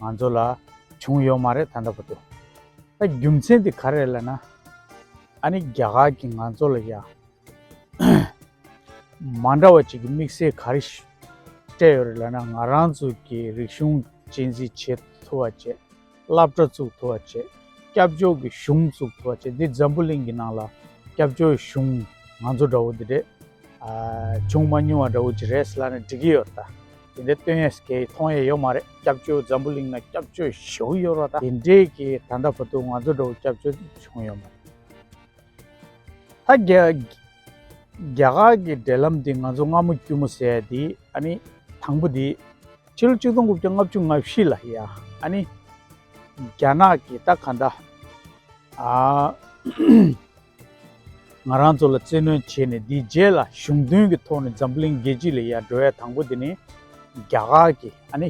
ང་ཚོ་ལ་བྱུང་ཡོད་མ་རེད་ད་ལྟ་བུ་དུ་ད་རྒྱུ་མཚན་དེ་ག་རེད་ལ་ན་ཨ་ནི་རྒྱ་གར་གྱི་ང་ཚོ་ལ་ཡ་མ་འདྲ་བ་ཅིག་གི་དམིགས་བསལ་ག་རེ་སྤྲད་ཡོད་རེད་ལ་ན་ང་རང་ཚོ་གི་རིག་གཞུང་གཅེས་འཛིན་བྱེད་ཐུབ་བ་བྱེད་བསླབ་གྲྭ་བཙུགས་ཐུབ་བ་བྱེད་སྐྱབས་བཅོལ་གྱི་གཞུང་བཙུགས་ཐུབ་བ་བྱེད་འདི་འཛམ་བུ་གླིང་གི་ནང་ལ་སྐྱབས་བཅོལ་གཞུང་ང་ཚོ་འདྲ་བོ་འདི་རེད་བྱུང་མ་མྱོང་བ་འདྲ་བོ་ཅིག་རེད་ལ་ན་འགྲིག་གི་ཡོད་རེད་ད། དེ་འདྲའི་སྟོན་ཡས་སྐད་མཐོང་ཡས་ཡོད་མ་རེད་སྐྱབས་བཅོལ་འཛམ་བུ་གླིང་ན་སྐྱབས་བཅོལ་བཞུགས་ཡོད་རོགས་ད་དེ་འདྲའི་གི་ད་ལྟ་བུ་དུ་ང་ཚོ་འགྲོ་བོ་སྐྱབས་བཅོལ་བྱུང་ཡོད་མ་རེད་ད་རྒྱ་རྒྱ་གར་གི་འབྲེལ་ལམ་དེ་ང་ཚོ་སྔ་མོ་དཀྱུས་མོ་ཟེར་ཡས་དེ་ཨ་ནི་དང་པོ་དེ་ཕྱི་ལོ་གཅིག་སྟོང་དགུ་བརྒྱ་ལྔ་བཅུ་ང་བཞི་ལ་ཡ་ཨ་ནི་རྒྱ་ནག་གི་ད་ག་འདྲ་ཨ། ང་རང་ཚོ་ལ་བཙན་གནོན་བྱས་ནས་དེའི་རྗེས་ལ་གཞུང་དོན་གྱི་ཐོག་ནས་འཛམ་གླིང་རྒྱལ་སྤྱི་ལ་ཡར་འགྲོ་ཡ་དང་པོ་དེ་ནི། རྒྱ་གར་གྱི་ཨ་ནི།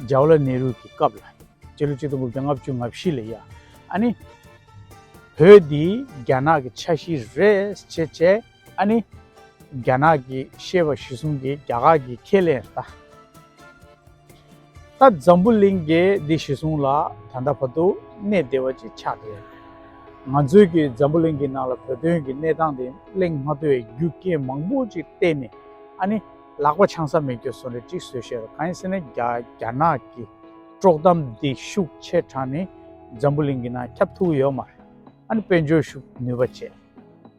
Jawahlar Nehru། གྱི་སྐབས་ལ། སྤྱི་ལོ་གཅིག་སྟོང་དགུ་བརྒྱ་ལྔ་བཅུ་ང་བཞི་ལ་ཡ་ཨ་ནི། བོད་འདི་རྒྱ་ནག་གི་ཆ་ཤིས་རེད་ཅེས་བྱས་ཨ་ནི། རྒྱ་ནག་གི་ཤེས་པ་གཞི་གསུམ་གྱིས་རྒྱ་གར་གྱི་ཁས་ལེན་རེད། ད་འཛམ་བུ་གླིང་གི་སྡིག་གཞི་ཟུང་ལ་ད་ལྟ་བར་དུ་གནས་བདེ་བ་ཅིག་ཆགས་ཀྱི་རེད། ང་ཚོས་ཀྱིས་འཛམ་བུ་གླིང་གི་ནང་ལ་བོད་དོན་གྱི་གནས་སྟངས་དེ་གླེང་མ་ཐུབ་བའི་རྒྱུ་རྐྱེན་མང་པོ་ཅིག་བལྟས་ནས་ཨ་ནི་ལག་པ་འཆང་ས་མི་འགྱོད་སོང་རེད་ཅིག་བཟོས་ཤེས་རོགས་གང་ཡིན་ཟེར་ན་རྒྱ་ནག་གི་དཀྲོག་གཏམ་སྡིག་ཤུགས་ཆེ་དྲགས་ནས་འཛམ་བུ་གླིང་གི་ནང་ཁྱབ་ཐུབ་ཀྱི་ཡོད་མ་རེད་ཨ་ནི་དཔལ་འབྱོར་ཤུགས་ནུས་པ་བཅས།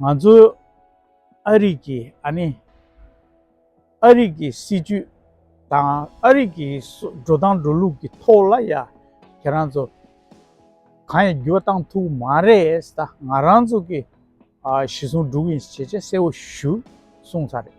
ང་ཚོས་ཨ་རིག་གི་ཨ་ནི། ཨ་རིག་གི་སྲིད་ཇུས་དང་ཨ་རིག་གི་འགྲོ་སྟངས་འགྲོ་ལུགས་ཀྱི་ཐོག་ལ་ཡ་ཁྱེད་རང་ཚོ་གང་ཡང་འགྱུར་བ་བཏང་ཐུབ་མ་རེད་ད་ང་རང་ཚོ་གི་ཞེ་ཟུང་འགྲུག་ཡིན་ཞེས་བྱས་གསལ་བོ་ཞུ་གསུངས་ཚར་རེད།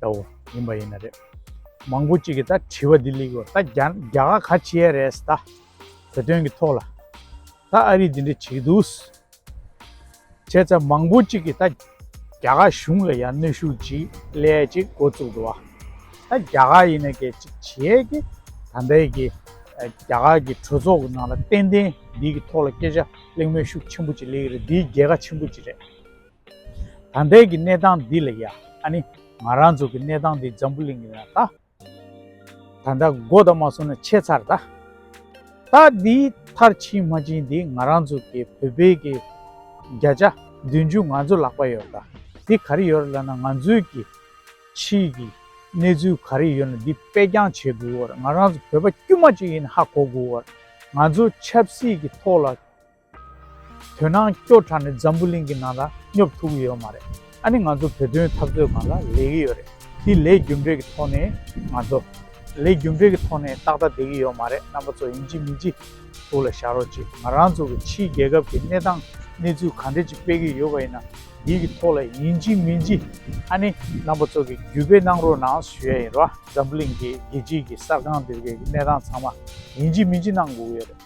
ད་འོ་ཡིན་པ་ཡིན་ན་རེད། མང་པོ་གཅིག་གིས་ད་དྲི་བ་འདི་ལེགས་ཡོད། ད་རྒྱ་རྒྱ་ག་ག་བྱེད་ཡས་རེད་ད། བོད་དོན་གྱི་ཐོག་ལ། ད་ཨ་རིས་འདི་འདྲ་བྱེད་འདུག། བྱས་ཙང་མང་པོ་གཅིག་གིས་ད། རྒྱ་ག་གཞུང་ལ་ཡང་གནོད་ཤུགས་ཅིག་སླེ་ཡས་ཅིག་འགོ་བཙུགས་འདུག་བ། ད་རྒྱ་ག་ཡིན་ན་གས་ཅིག་བྱེད་ཡས་ཀི། ད་ལྟའི་གི། རྒྱ་ག་གི་གྲོས་ཚོགས་གི་ནང་ལ་ཏན་ཏན་འདིའི་གི་ཐོག་ལ་སྐད་ཆ་གླེང་མོལ་ཤུགས་ཆེན་པོ་ཅིག་སླེ་ཡི་རེད་འདི་རྒྱལ་ཁ་ཆེན་པོ་ཅིག་རེད། ད་ལྟའི་གི་གནས་སྟངས་འདི་ལ་ཡ་ཨ་ནི་ང་རང་ཚོ་གི་གནས་སྟངས་འདི་འཛམ་བུ་གླིང་ལ་ད་ད་ལྟ་མགོ་ད་མ་སོང་ན་ཆད་ཚར་ད་ད་འདི་མཐར་ཕྱིན་མ་ཕྱིན་འདི་ང་རང་ཚོ་གི་བོད་པའི་གི་བརྒྱ་ཆ་བདུན་ཅུ་ང་ཚོ་ལག་པ་ཡོད་ད་འདི་ག་རེ་ཡོད་རེད་ལ་ན་ང་ཚོའི་གི་ཕྱི་གི་གནས་ཚུལ་ག་རེ་ཡོད་ན་འདི་དཔེ་རྐྱང་བྱེད་དགོས་རེད་ང་རང་ཚོ་བོད་པ་དཀྱུས་མ་གཅིག་ཡིན་ཧ་གོ་དགོས་རེད་ང་ཚོ་ཆབ་སྲིད་གི་ཐོག་ལ། དོན་སྣང་སྐྱོ་དྲགས་ནས་འཛམ་བུ་གླིང་གི་ནང་ལ་སྙོབ་ཐུབ་ཀྱི་ཡོད་མ་རེད་ཨ་ནི་ང་ཚོ་བོད་དོན་འཐབ་རྩོད་གང་ལ་ལས་ཀྱི་ཡོད་རེད་དེ་ལས་རྒྱུ་འབྲས་ཀྱི་ཐོག་ནས་ང་ཚོ། ལས་རྒྱུ་འབྲས་ཀྱི་ཐོག་ནས་ཏག་ཏག་བསྡད་ཀྱི་ཡོད་མ་རེད་རྣམ་པ་ཚོ་ཡིན་ཅི་མིན་ཅི་ཐུགས་ལ་བཞག་རོགས་གྱིས་ང་རང་ཚོ་གི་ཕྱིའི་རྒྱལ་ཁབ་ཀྱི་གནས་སྟངས་གནས་ཚུལ་གང་འདྲ་ཅིག་སྤེལ་གྱི་ཡོད་པ་ཡིན་ན་དེའི་གི་ཐོག་ལ་ཡིན་ཅི་མིན་ཅི་ཨ་ནི་རྣམ་པ་ཚོ་གི་བརྒྱུད་སྤེལ་གནང་རོགས་གནང་ཞུ་ཡ་ཡིན་རོགས་འཛམ་བུ་གླིང་གི་རྒྱལ་སྤྱིའི་གི་གསར་ཁང་འདིར་གི་གནས་སྟངས་ཚང་མ་ཡིན་ཅི་མིན་ཅི་གནང་དགོས་ཀྱི་ཡོད་རེད།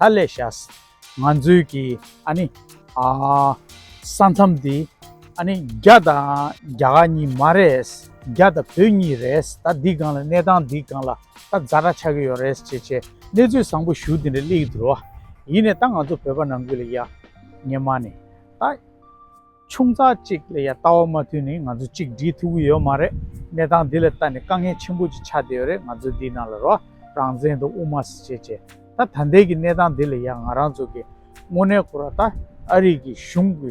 ད་ལས་ཤཱས། ང་ཚོའི་གི་ཨ་ནི། ཨ། ས་མཚམས་འདི། ཨ་ནི་རྒྱ་དང་རྒྱ་གར་གཉིས་མ་རེད། རྒྱ་དང་བོད་གཉིས་རེད། ད་འདི་སྒང་ལ་གནས་སྟངས་འདི་སྒང་ལ་ད་རྫ་དྲ་ཆགས་ཀྱི་ཡོད་རེད་ཅེས་བྱས་གནས་ཚུལ་བཟང་པོ་ཞུ་དེ་འདྲ་གླེགས་ཡོད་དུ་རུ། ཡིན་ནས་ད་ང་ཚོ་བོད་པ་ནང་ཁུལ་ལ་ཡ། ངས་མ་ནི། ད། ཆུང་ཙག་ཅིག་ལ་ཡང་ལྟ་བ་མ་ཐུལ་ནི་ང་ཚོ་གཅིག་སྒྲིལ་ཐུབ་ཀྱི་ཡོད་མ་རེད། གནས་སྟངས་འདི་ལ་ལྟ་ནས་དཀའ་ངལ་ཆེན་པོ་ཅིག་ཆགས་བསྡད་ཡོད་རེད་ང་ཚོས་འདིའི་ནང་ལ་རོགས་རང་བཙན་དང་དབུ་མ་སྲིད་བྱས་བྱས་ད་ད་འདས་ཀྱི་གནས་སྟངས་འདི་ལ་ཡང་ང་རང་ཚོ་གིས་དངོས་གནས་ཁོ་ར་ད་ཨ་རིག་གི་གཞུང་གི་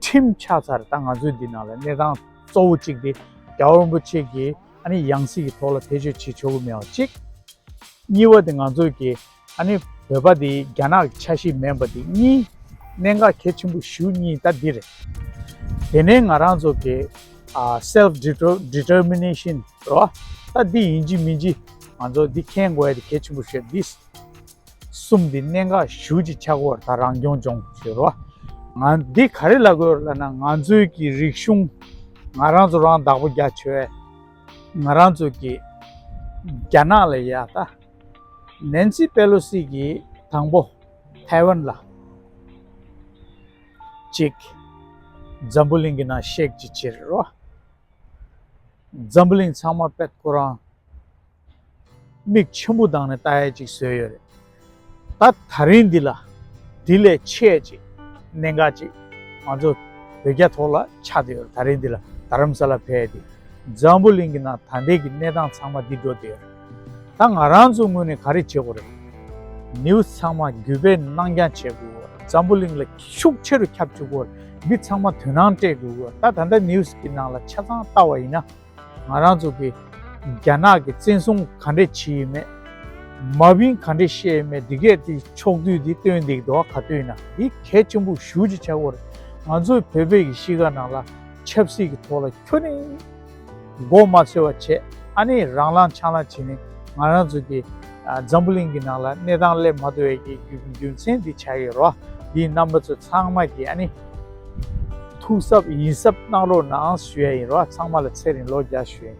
ཁྲིམས་ཆགས་ཚར་ད་ང་ཚོས་འདི་ནང་ལ་གནས་སྟངས་གཙོ་བོ་གཅིག་དེ་རྒྱ་བོ་རིན་པོ་ཆེ་གིས་ཨ་ནི་ཡང་སྲིད་ཀྱི་ཐོག་ལ་ཐེ་བྱུས་བྱེད་ཆོག་གི་མེད་བ་གཅིག། གཉིས་བ་དེ་ང་ཚོས་ཀྱིས་ཨ་ནི་བོད་པ་དེ་རྒྱ་ནག་གི་ཆ་ཤས་མེན་པ་དེ་གཉིས་གནད་འགག་གལ་ཆེན་པོ་བཞི་བོ་གཉིས་ད་འདི་རེད། དེ་ནས་ང་རང་ཚོ་གི self determination རེད་བ། ད་འདི་ཡིན་གྱི་མིན་གྱི་ང་ཚོ་འདི་མཁྱེན་དགོས་དེ་གལ་ཆེན་པོ་ཞེས་འདི་གསུམ་དེ་གནད་འགག་བཞི་བོ་ཆགས་སྐོར་ད་རང་སྐྱོང་སྐྱོང་ཞེས་རེད་བ། ང་འདི་ག་རེ་ལ་དགོས་རེད་ལབ་ན་ང་ཚོའི་གི་རིག་གཞུང་ང་རང་ཚོ་རང་བདག་པོ་རྒྱ་ཆེ་བས་ང་རང་ཚོ་གི་རྒྱ་ནག་ལ་ཡ་ད། ནན་སི་པེ་ལོ་སི་གྱིས་དང་པོ་ཐའེ་ཝན་ལ་གཅིག། འཛམ་བུ་གླིང་གི་ནང་གཤེགས་ཀྱི་ཕྱིར་རོ། འཛམ་བུ་གླིང་ཚང་མ་པད་ཁོ་རང་མིག་ཆུན་པོ་དང་ནི་ལྟ་ཡས་ཅིག་བཟོས་ཡོད་རེད། ད་ད་རིང་འདི་ལ་དེ་ལས་ཆེས་ཅིག་གནད་འགག་ཅིག་ང་ཚོ་བོད་རྒྱ་ཐོག་ལ་ཆགས་ཏེ་ཡོད་རེད་ད་རིང་འདི་ལ་རྡ་རམ་ས་ལ་བས་ཏེ་འཛམ་བུ་གླིང་གི་ནང་ད་ལྟའི་གི་གནས་སྟངས་ཚང་མ་འདི་འགྲོ་སྡོད་ཡོད་རེད། ད་ང་རང་ཚོའི་ངོས་ནས་ག་རེ་བྱེད་དགོས་རེད། News ཚང་མ་བརྒྱུད་པས་གནང་རྐྱང་བྱེད་དགོས། འཛམ་བུ་གླིང་ལ་ཤུགས་ཆེ་རུ་ཁྱབ་བཅུག་གོ། འདི་ཚང་མ་དོན་སྣང་སྤྲད་དགོས་གོ། ད་ད་ལྟ News གི་ནང་ལ་ཆ་ཚང་བལྟ་བ་ཡིན་ན། ང་རང་ཚོ་གི་རྒྱ་ནག་གི་བཙན་བཟུང་ག་འདྲས་བྱེད་ཡི་མེད། མ་བིན་ག་འདྲས་བཤད་ཡི་མེད་འདི་གས་དེ་ཕྱོགས་བསྡུས་དེ་སྟོན་འདེགས་དོ་ག་སྟོན་ན་འདི་གལ་ཆེན་པོ་ཞུ་ཅི་བྱ་དགོས་རེད། ང་ཚོའི་བོད་པའི་གི་གཤིས་ཀ་ནང་ལ་ཆབ་སྲིད་གི་ཐོག་ལ་ཁྱོད་རིང། མགོ་མ་འཚོས་བ་བྱས་ཨ་ནི་རང་ལང་ཆང་ལ་བྱིན་ནས་ང་རང་ཚོ་གི་འཛམ་བུ་གླིང་གི་ནང་ལ་གནས་སྟངས་སླེབས་མ་ཐུབ་བའི་གི་རྒྱུ་མཚན་འདི་བྱ་ཡི་རོ་འདིའི་རྣམ་པ་ཚོ་ཚང་མ་གི་ཨ་ནི་ཐུགས་གཟབ་ཡིན་གཟབ་གནང་རོགས་གནང་ཞུ་ཡ་ཡིན་རོ་ཚང་མ་ལ་ཚེ་རིང་ལོ་བརྒྱ་ཞུ་ཡ་ཡིན།